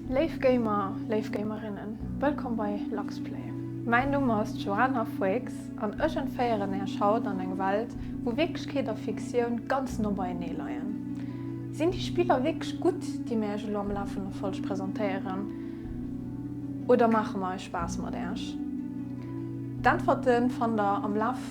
Léif Gamer, léif Gamerinnen, wëllkomm bei Luxplay. Mäin Numm ass d'Joana Foix an ech entféieren Äech haut an eng Welt, wou Wierklechkeet a Fiktioun ganz no beienee leien. Sinn déi Spiller wierklech gutt, déi mir Äech elo am Laf vun der Folg presentéieren, oder maache mer eis Spaass mat Äech? D'Äntwerte fannt Der am Laf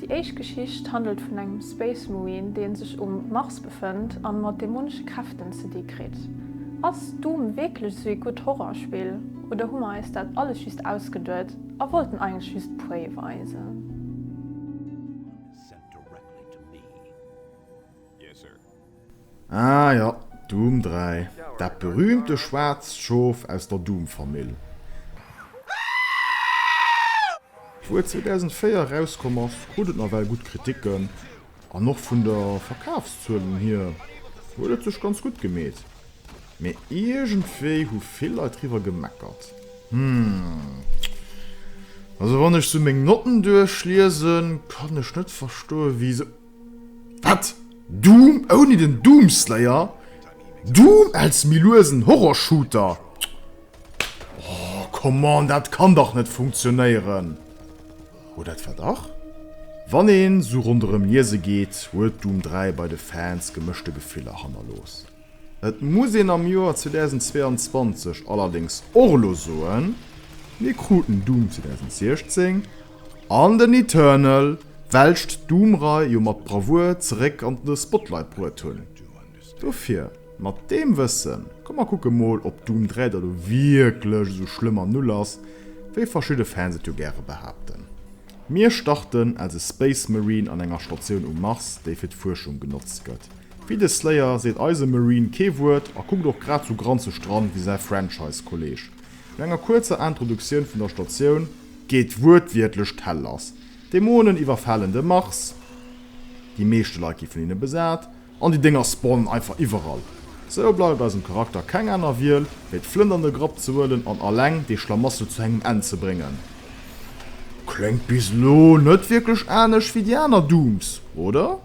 Déi éischt Geschicht handelt vun engem Space Marine, dee sech um Mars befënnt a mat dämonesche Kräften ze di kritt. Ass Doom wierklech esou ee gutt Horrorspill oder hu mer eis dat alles just ausgeduet a wollten eigentlech just Prey weisen? Ah jo, Doom 3, dat berühmte schwaarzt Schof aus der Doom-Famill. Wou et 2004 erauskomm ass, krut et nawell gutt Kriticken, an och vun der Verkafszuelen hier huet et sech ganz gutt gemeet. Mee iergendwéi hu vill Leit driwwer gemeckert. Hm, also wann ech sou meng Notten duerchliesen, kann ech net verstoen, wéi se. Wat? Doom ouni den Doomslayer? Doom als méi luesen Horror-Shooter? Oh, come on, dat kann dach net funktionéieren. Oder etwa dach? Wann een sou ronderëm liese geet, huet Doom 3 bei de Fans gemëschte Gefiller hannerlooss. Et muss een am Joer 2022 allerdéngs och elo soen, mir kruten Doom 2016 an den Eternal welscht d'Doom-Rei jo mat Bravour zeréck an de Spotlight bruet hunn. Dofir, mat deem Wëssen, komm mer kucke mol ob Doom 3 da lo wierklech esou schlëmm an Null ass wéi verschidde Fans et jo gäre behaapten. Mir starten als e Space Marine an enger Statioun um Mars, déi fir d'Fuerschung genotzt gëtt. Wéi de Slayer seet eise Marine kee Wuert a kuckt och grad sou granzeg dran wéi säi Franchise-Kolleeg. No enger kuerzer Introduktioun vun der Statioun geet wuertwiertlech d'Hell lass, Dämonen iwwerfalen de Mars, déi meeschte Leit gi vun hinne besat an déi Dénger spawnen einfach iwwerall. Sou bleift eisem Charakter keng aner Wiel, wéi d'Flënt an de Grapp ze huelen an alleng dee Schlamassel zu engem Enn ze bréngen. Kléngt bis elo net wierklech anescht wéi déi aner Dooms, oder?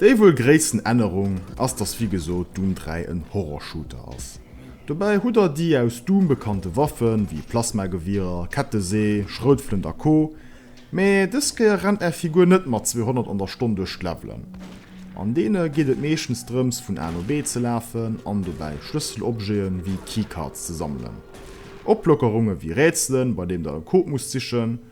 Déi wuel gréissten Ännerung ass dass wéi gesot Doom 3 en Horrorshooter ass. Dobäi hutt der déi aus Doom bekannte Waffen wéi Plasmagewierer, Kettesee, Schroutflënt a Co. Mee dës Kéier rennt är Figur net mat 200 an der Stonn duerch d'Levelen. An deene geet et meeschtens drëms vun A no B ze lafen an dobäi Schlësselobjete wéi Keycards ze sammelen. Oplockerunge wéi Rätselen, bei deem der e Code musst sichen.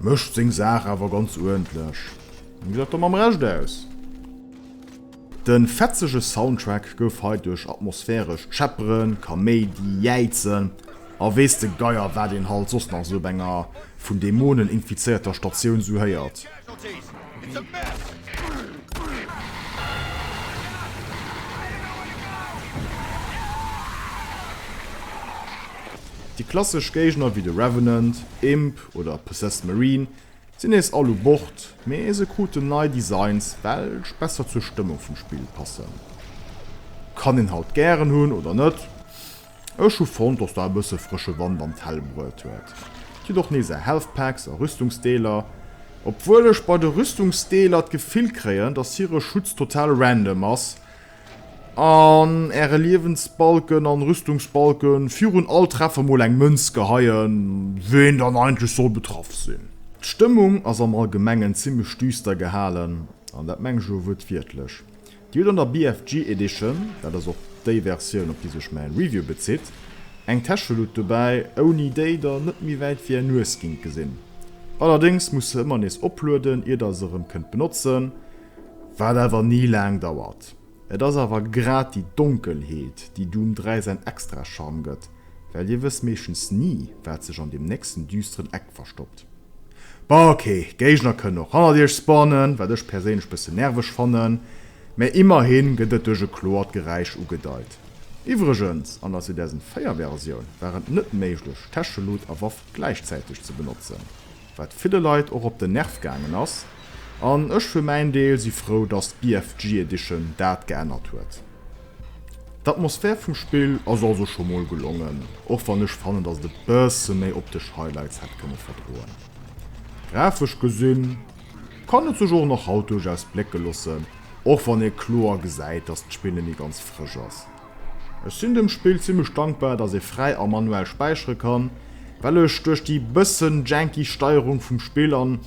Mécht seng Saach awer ganz uerdentlech. An gesäit da mam Recht aus. De fetzege Soundtrack gouf hei duerch atmosphärescht Schepperen, Kaméidi, Jäizen a weess de Geier wat een halt soss nach esou op enger vun Dämonen infizéierter Statioun esou héiert. Déi klassesch Géigner wéi de Revenant, Imp oder Possessed Marine sinn nees all u Bord, mee se kruten nei Designs welch besser zur Stëmmung vum Spill passen. Kann een halt gären hunn oder net? Ech hu fonnt dass der e bësse frësche Wand an d'Hal bruet huet. Et gëtt och nees Health Packs a Rüstungsdeeler, obwuel ech bei de Rüstungsdeeler d'Gefill kréien dass hire Schutz total random ass an äre Liewensbalken an Rüstungsbalke virun all Treffer mol eng Mënz geheien ween dann eigentlech soll betraff sinn. D'Stëmmung ass am allgemengen zimmlech düster gehalen an dat mengen ech elo wuertwiertlech. Dir hutt an der BFG Edition, dat ass och déi Versioun op déi sech mäi Review bezitt, eng Täscheluut dobäi, ouni déi der net méi wäit wéi är Nues gingt gesinn. Allerdéngs musst se ëmmer nees oplueden, ier der se erëm kënnt benotzen, wat awer ni laang dauert. Et ass awer grad déi Donkelheet, déi Doom 3 säin extra Charme gëtt, well dir wësst meeschtens ni, wat sech an deem nächsten düsteren Eck verstoppt. Bon ok, Géigner kënnen och hannert iech spawnen, wat ech perséinlech bëssen nerveg fannen, mä immerhin gëtt et duerch e kloert Geräisch ugedeit. Iwwregens, an der Season 4 Versioun war et net méiglech Täschelut a Waff gläichzäiteg ze benotzen, wat ville Leit och op den Nerv gaangen ass, an ech fir mäin Deel si frou dass d'BFG Edition dat geännert huet. D'Atmosphär vum Spill ass also scho mol gelongen, och wann ech fannen dass et e bësse méi optesch Highlights hätt kënne verdroen. Grafesch gesinn kann et sech och nach haut duerchaus blécke loossen, och wann ee kloer gesäit dass d'Spill net méi ganz frësch ass. Ech sinn dem Spill zimmlech dankbar dass ee fräi a manuell späichere kann, well ech duerch déi bëssen janky Steierung vum Spill an.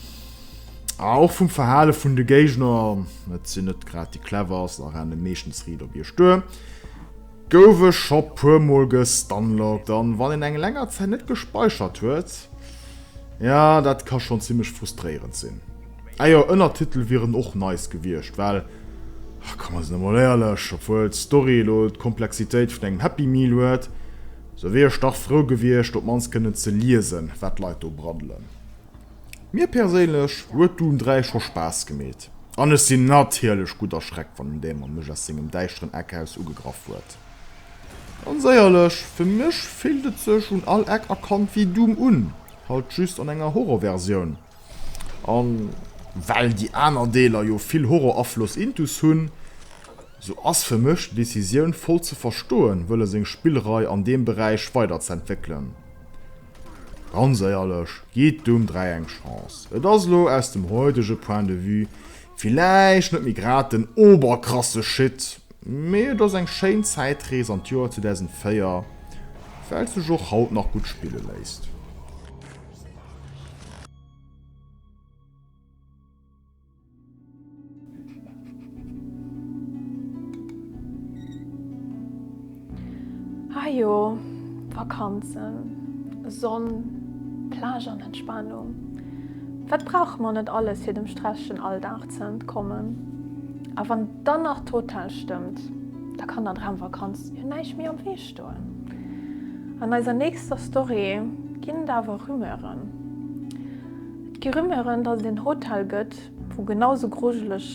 A och vum Verhale vun de Géigner, et sinn net grad déi cleverst a renne meeschtens riit op iech duer, gouf ech scho puer mol gestunlockt an wann een eng länger Zäit net gespeichert huet, jo dat ka schonn zimmlech frustréierend sinn. Ah jo, Ënnertitel wieren och nice gewiescht, well komm mir sinn emol éierlech, obwuel d'Story elo d'Komplexitéit vun engem Happy Meal huet, sou wier ech dach frou gewiescht op mannst kënnen ze liesen, wat d'Leit do braddelen. Mir perséinlech huet Dune 3 scho Spaass gemeet an ech sinn natierlech gutt erschreckt wann en Dämon mech aus sengem däischteren Eck aus ugegraff huet. Ganz éierlech, fir mech fillt et sech un all Eck erkannt wéi Doom un, halt just an enger Horror-Versioun. An well déi aner Deeler jo vill Horror-Afloss intus hunn, sou ass fir mech déi Decisioun voll ze verstoen wëlle seng Spillrei an deem Beräich weider ze entwéckelen. Ganz éierlech, gitt dum 3 eng Chance. Et ass elo aus dem heutege Point de vue villäicht net méi grad den oberkrasse Shit, mee et ass eng schéin Zäitrees an d'Joer 2004, wat sech och haut nach gutt spille léisst. Ah jo, Vakanzen, Sonn, Plage an Entspanung. Wat brauche mer net alles fir dem stresschen Alldag ze entkommen? A wann dann nach d'Hotel stëmmt, da kann der Dramvakanz jo näischt méi am Wee stoen. An eiser nächster Story ginn et awer Rumeuren. Gi Rumeuren, dass et een Hotel gëtt, wou genau sou grujeleg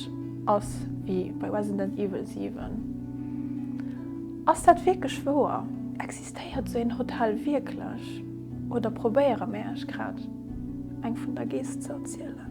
ass wéi bei Resident Evil 7. Ass dat wierklech wouer? Existéiert sou een Hotel wierklech? Oder probéiere mär iech grad eng vun der Geess ze erzielen?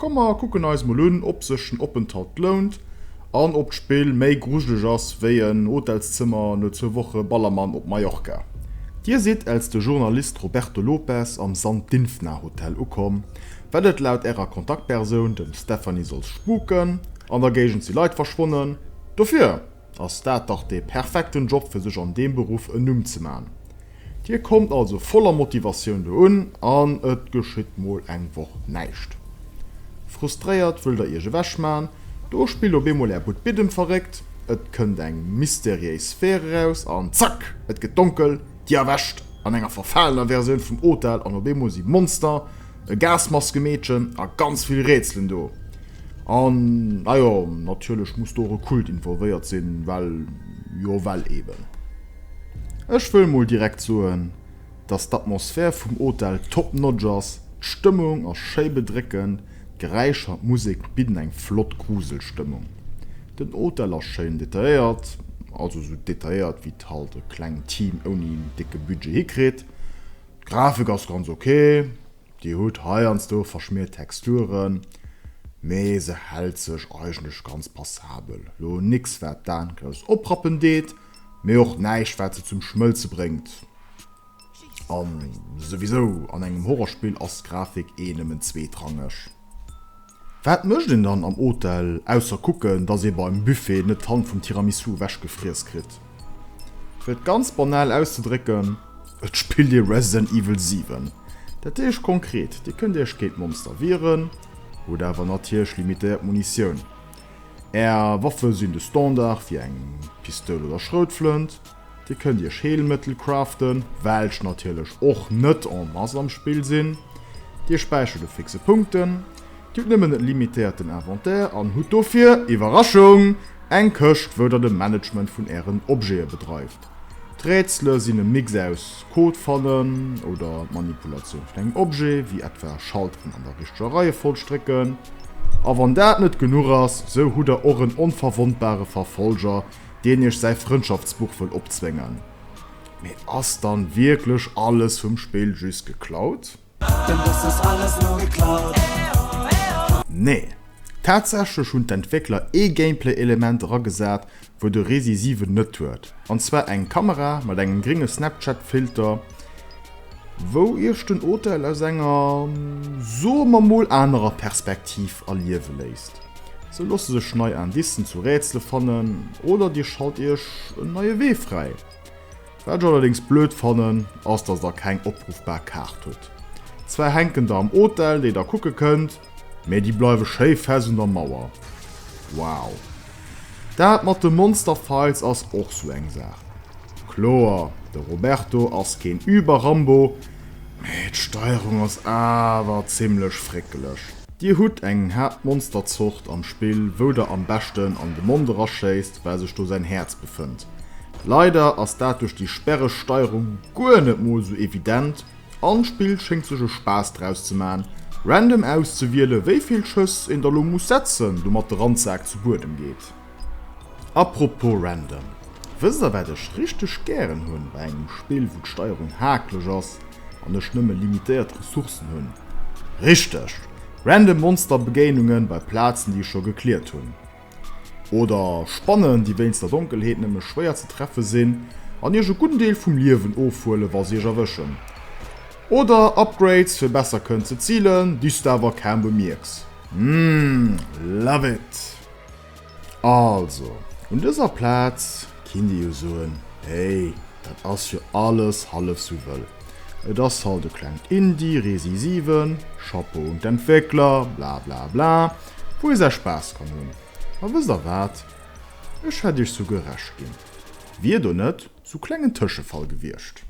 Komm mer kucken eis mol un ob sech den Openthalt lount an ob d'Spill méi grujeleg ass wéi en Hotelszëmmer no zwou Woche Ballermann op Mallorca. Dir sidd els de Journalist Roberto Lopes am San Dynfna Hotel ukomm, well et laut ärer Kontaktpersoun dem Stephanie soll spuken an der Géigend si Leit verschwonnen. Dofir! ass dat dach dee perfekten Job fir sech an deem Beruff en Numm ze man. Dir kommt also voller Motivatioun do un an et geschitt mol eng Woch näischt. Frustréiert wëllt der iech ewech man, do spillt op eemol är Bud Bidden verréckt, et kënnt eng mysteriéis Sphäre raus an zack, et gëtt donkel, dir erwächt an enger verfalener Versioun vum Hotel an op eemol si Monster, e Gasmaskemeedchen a ganz vill Rätselen do. An najo, natierlech muss do och e Kult involvéiert sinn, well jo well eben. Ech wëll mol direkt soen, dass d'Atmosphär vum Hotel top notch ass, d'Stëmmung ass schéi bedréckend, d'Geräischer an d'Musek bidden eng flott Gruselstëmmung. Den Hotel ass schéin detailléiert, also sou detailléiert wéi et halt e klengt Team ouni décke Budget hikritt. D'Grafik ass ganz ok, déi huet heiansdo verschmiert Texturen, mee se hält sech eigentlech ganz passabel. Lo nix wat d'Aan grouss oprappen deet, mee och näischt wat se zum Schmëlze bréngt. An souwisou an engem Horrorspill ass d'Grafik eh nëmmen zweetrangeg. Wat mécht een dann am Hotel, ausser kucken, dass ee beim Buffet net d'Hand vum Tiramisu ewechgefriess kritt? Fir et ganz banal auszedrécken, et spillt ee Resident Evil 7. Dat heescht konkret, Dir kënnt Iech géint Monster wieren, hutt awer natierlech limitéiert Munitioun. Är Waffe sinn de Standard, wéi eng Pistoul oder Schroutflënt. Dir kënnt Iech Heelmëttel craften, welch natierlech och net en masse am Spill sinn. Dir späichert u fixe Punkten. Dir hutt nëmmen e limitéierten Inventaire an hutt dofir, Iwwerraschung! eng Këscht, wou der de Management vun Ären Objete bedreift. D'Rätsele sinn e Mix aus Code fannen oder d'Manipulatioun vun engem Objet, wéi etwa Schalteren an der richteger Reiefolg drécken. A wann dat net genuch ass, sou hutt der och en onverwondbare Verfolger, deen iech säi Frëndschaftsbuch wëll opzwéngen. Mee ass dann wierklech alles vum Spill just geklaut? Denn das ist alles nur geklaut. Nee, tatsächlech hunn d'Entwéckler ee Gameplay-Element eragesat, wou de Resi 7 net huet, an zwar eng Kamera mat engem gringe Snapchat-Filter, wou Iech den Hotel aus enger, soe mer mol, anerer Perspektiv erliewe léisst. Se loosse sech nei Indicen zu Rätsele fannen oder Dir schalt Iech en neie Wee fräi. Wat ech allerdéngs blöd fannen, ass, dass Der keng opruffbar Kaart hutt. Zwar hänken der am Hotel, déi Der kucke kënnt, Mee déi bleiwe schéi fest un der Mauer. Wow. Dat mat de Monsterfights ass och sou eng Saach. Kloer, de Roberto ass keen Über-Rambo, mee d'Steierung ass awer zimmlech fréckeleg. Dir hutt eng haart Monsterzort am Spill, wou der am beschten an de Mond eraschéisst, well sech do säin Häerz befënnt. Leider ass dat duerch déi sperreg Steierung guer net mol sou evident, An d'Spill schéngt sech e Spaass draus ze man, random auszewielen wéivill Schëss een da lo muss setzen, domat de Randsak zu Buedem geet. Apropos random, wësst der wat ech richteg gären hunn bei engem Spill wou d'Steierung haakleg ass an ech nëmme limitéiert Ressourcen hunn? Richteg! Random Monsterbegéinungen bei Plazen déi ech scho gekliert hunn. Oder Spannen, déi wéinst der Donkelheet nëmme schwéier ze treffe sinn an iech e gudden Deel vum Liewen ofhuelen, wa se iech erwëschen. Oder Upgrades, fir besser kënnen ze zilen, déi s de awer kaum bemierks. Mmm, love it! Also, un dëser Plaz kinnt ee jo soen, hey, dat ass jo alles hallef sou wëll, et ass halt e klengt Indie Resi 7, Chapeau un d'Entwéckler, blablabla. wou ee säi Spaass kann hunn. A wësst der wat? Ech hätt iech souguer Recht ginn, wier do net sou klengen Tëschefall gewiescht.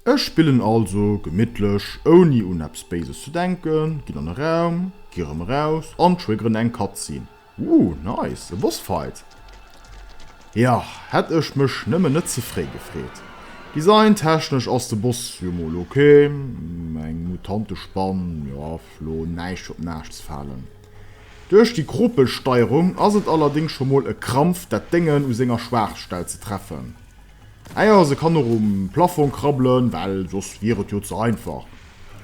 Ech spillen also gemittlech, ouni un eppes Béises ze denken, ginn an e Raum, gi rëm eraus an triggeren eng Cutscene. Ooh nice, e Boss Fight! Jo, hätt ech mech nëmmen net ze fréi gefreet. Design technesch ass de Boss jo mol ok, eng Mutantespann, jo lo näischt op näischt ze falen. Duerch déi Kropelsteierung ass et allerdéngs scho mol e Krampf dat Déngen u senger Schwaachstell ze treffen. Ah jo, se kann och um Plafong krabbelen, well soss wier et jo ze einfach.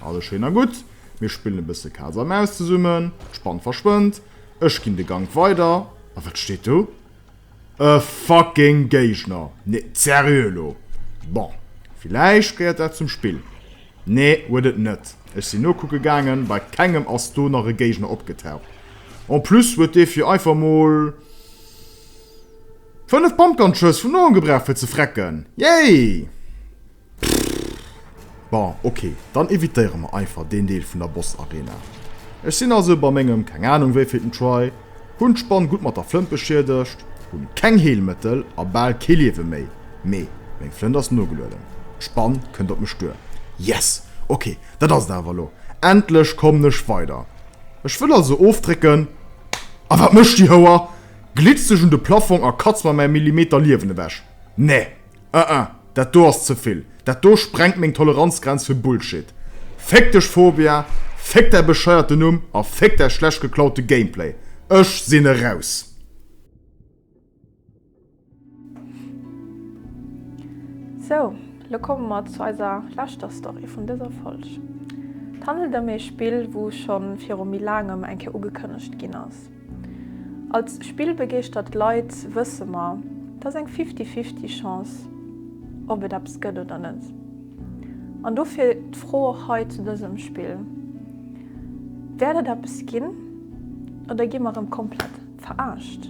Alles schéin a gutt, mir spillen e bësse Kaz a Maus zesummen, d'Spann verschwënnt, Ech ginn de Gank weider. A wat steet do? E fucking Géigner! Nee, seriö elo? Bon, villäicht gehéiert dat zum Spill. Nee, huet et net. Ech sinn nokucke gaangen, bei kengem ass do nach e Géigner opgetaucht. En plus huet dee fir einfach mol 5 Pumpgun-Schëss vun no gebraucht fir ze frecken. Yay! Pff, bon, ok, dann evitéiere mer einfach deen Deel vun der Boss Arena. Ech sinn also bei mengem, keng Ahnung wéivilten Try, hunn d'Spann gutt mat der Flënt beschiedegt, hunn keng Heelmëttel a bal kee Liewe méi, mee meng Flënt ass nogelueden, d'Spann kënnt op mech duer. Yes! Ok, dat ass et awer elo, endlech kommen ech weider. Ech wëll also ofdrécken, a wat mécht déi Houer? Glitzt sech un de Plaffong a katzt mer mäi Millimeter Liewen ewech. Nee! Ah ah, dat do ass ze vill. Dat do sprengt meng Toleranzgrenz fir Bullshit. Féck dech Fobia, féck däi bescheierten Numm a féck däi schlecht geklaute Gameplay. Ech sinn eraus. Sou, lo komme mer zu eiser leschter Story vun dëser Folg. Et handelt ëm ee Spill, wou schonn viru méi laangem eng Kéier ugekënnegt ginn ass. Als spillbegeeschtert Leit wësse mer, et ass eng fifty-fifty Chance, ob et eppes gëtt oder net. An dofir d'Fro och hei zu dësem Spill, Wäert et eppes ginn oder gi mer erëm komplett verarscht?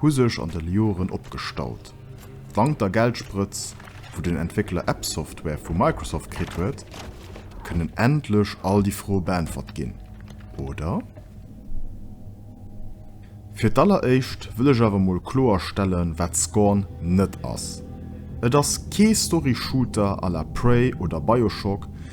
hu sech an den Joeren opgestaut. Dank der Geldsprëtz, wou den Entwéckler App-Software vu Microsoft kritt huet, kënnen endlech all déi Froe beäntwert ginn, oder? Fir d'alleréischt wëll ech awer mol kloer stellen, wat Scorn net ass. Et ass kee Story-Shooter à la Prey oder Bioshock,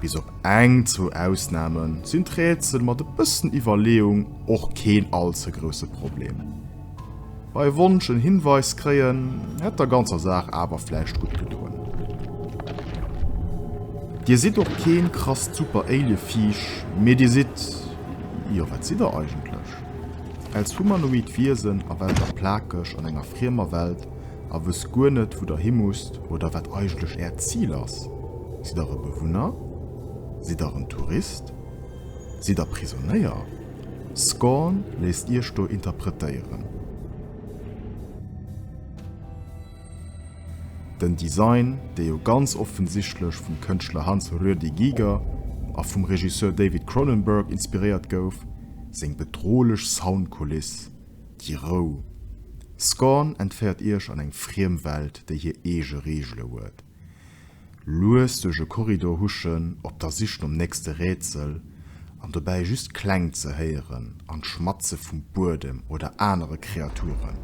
Bis op eng, zwou Ausnahmen sinn d'Rätsel mat e bëssen Iwwerleeung och keen all ze grousse Problem. Bei Wonsch en Hinweis kréien hätt der ganzer Saach awer vläicht gutt gedoen. Dir sidd och keen krasst Super-Alien-Viech, mee dir sidd, jo, wat sidd der eigentlech? Als humanoid Wiesen a welter plakeg an enger friemer Welt, a wësst guer net, wou Der hi musst oder wat eigentlech Äert Zil ass. Sidd Der e Bewunner? Sidd Der en Tourist? Sidd Der Prisonéier? Scorn léisst Iech do interpretéieren. Den Design, dee jo ganz offensichtlech vum Kënschtler Hans Ruedi Giger a vum Regisseur David Cronenberg inspiréiert gouf, seng bedrohlech Soundkuliss, Déi Rou. Scorn entféiert iech an eng friem Welt, déi hir eege Reegele huet. Lues duerch e Korridor huschen, op der Sich nom nächste Rätsel, an dobäi just Kläng ze héieren an d'Schmatze vum Buedem oder anere Kreaturen.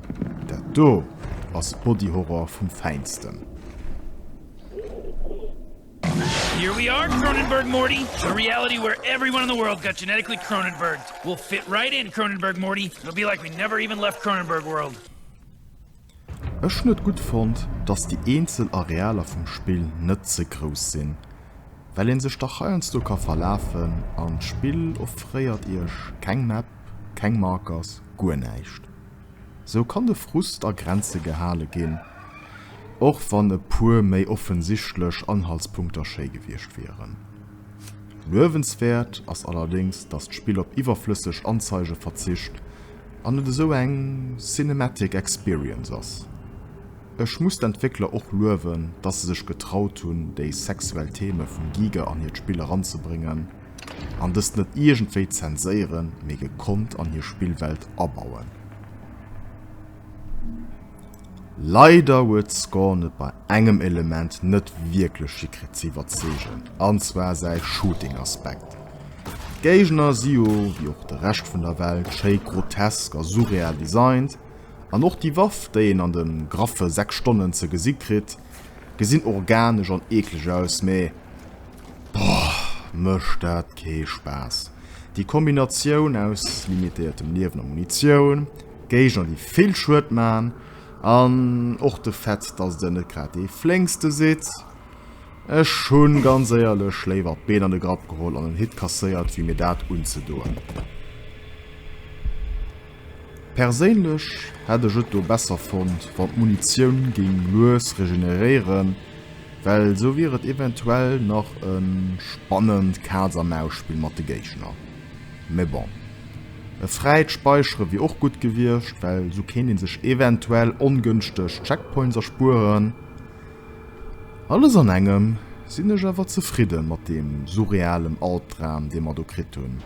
Dat do ass Body Horror vum Fäinsten. Here we are Cronenberg Morty a reality where everyone in the world got genetically Cronenberg will fit right in Cronenberg Morty it'll be like we never even left Cronenberg world. Ech hunn et gutt fonnt, dass déi eenzel Arealer vum Spill net ze grouss sinn, well ee sech dach heiansdo ka verlafen an d'Spill offréiert iech keng Map, keng Markers, guer näischt. Sou kann de Frust a Grenze gehale ginn, och wann e puer méi offensichtlech Anhaltspunkter schéi gewiescht wieren. Luewenswäert ass allerdéngs, datt d'Spill op iwwerflësseg Anzeige verzicht an et esou eng cinematic experience ass. Ech muss d'Entwéckler och luewen, datt se sech getraut hunn, déi sexuell Theme vum Giger an hiert Spill eranzebréngen. An dëst net iergendwéi zenséieren, mee gekonnt an hir Spillwelt abauen. Leider huet d'Scorn et bei engem Element net wierklech hikritt ze iwwerzeegen, an zwar säi Shooting-Aspekt. D'Géigner si jo, wéi och de Rescht vun der Welt, schéi grotesk a surreal designt, an och déi Waff, déi een an de graffe 6 Stonnen ze gesi kritt, Gesinn organesch an eekleg aus, mee boah mécht dat kee Spaass. Déi Kombinatioun aus limitéiertem Liewen a Munitioun, Géigner déi vill Schued man an och de Fait dass Der net grad dee flénkste sidd. Ech hunn ganz éierlech léiwer d'Been an de Grapp geholl an en Hit kasséiert wéi mir dat unzedoen. Perséinlech hätt ech et do besser fonnt wann d'Munitioun géing lues regeneréieren, well esou wier et eventuell nach e spannend Kaz a Maus Spill mat de Géigner. Mee bon, e fräit Speichere wier och gutt gewiescht, well esou kéint ee sech eventuell ongënschteg Checkpoints erspueren. Alles an engem sinn ech awer zefridde mat deem surrealem Albdram dee mer do kritt hunn.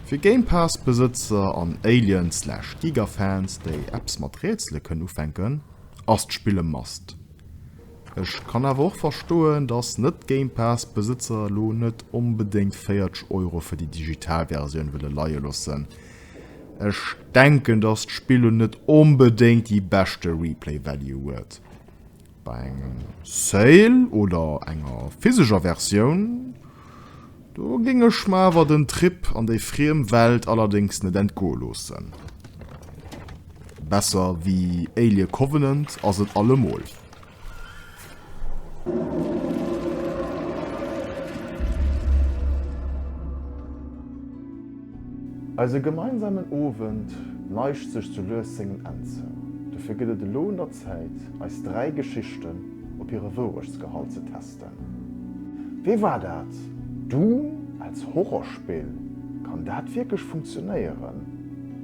Fir Game-Pass-Besëtzer an Alien-slash-Giga-Fans, déi eppes mat Rätsele kënnen ufänken, ass d'Spill e Must. Ech kann awer och verstoen, dass Net-Game-Pass-Besëtzer elo net onbedéngt 40 Euro fir déi digital Versioun wëlle leie loossen. Ech denken, dass d'Spill elo net onbedéngt déi beschte Replay-Value huet. Bei engem Sale oder enger physescher Versioun, do géing ech mer awer den Trip an déi friem Welt allerdéngs net entgoe loossen. Besser wéi Alien Covenant ass et allemol. Eise gemeinsamen Owend neigt sech sou lues sengem Enn zou. Dofir gëtt et elo un der Zäit, eis dräi Geschichten op hire Wourechtsgehalt ze testen. Wéi war dat? Doom als Horrorspill, kann dat wierklech funktionéieren?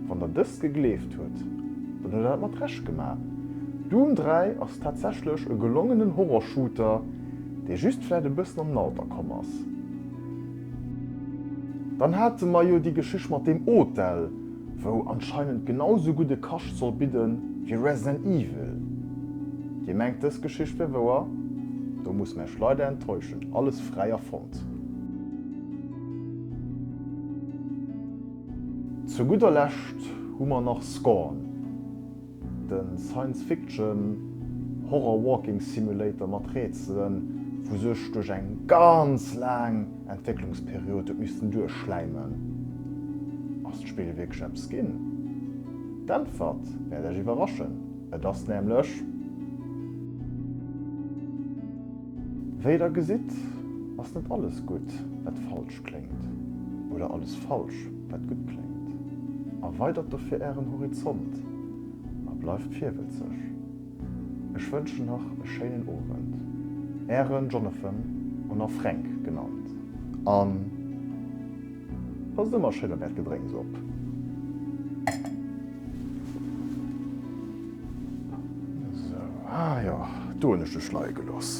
Wann der dëst gegleeft hutt, dann hutt der dat mat Recht gemaach. Doom 3 ass tatsächlech e gelongenen Horrorshooter, dee just vläit e bëssen an den Alter komm ass. Dann hate mer jo déi Geschicht mat deem Hotel. wou anscheinend genau sou gudde Kascht soll bidde wéi Resident Evil. Dir mengt dës Geschicht wär wouer? Do muss mä ech leider enttäuschen, alles fräi erfonnt. Zu gudder Lescht hu mer nach Scorn. De Science Fiction Horror Walking Simulator mat Rätselen, wou sech duerch eng ganz laang Entwécklungsperiod huet missten duerchschläimen. Ass d'Spill wierklech eppes ginn? D'Äntwert wäert Iech iwwerraschen, et ass nämlech. Wéi der gesitt, ass net alles gutt wat falsch. schlecht kléngt, oder alles falsch, wat gutt kléngt. Erweidert dofir Ären Horizont a bleift virwëtzeg. Ech wënschen nach e schéinen Owend. Ären Jonathan, un a Fränk genannt. A passt ëmmer schéin op Äert Gedrénks op. Esou, ah jo, do hunn ech dech leie gelooss.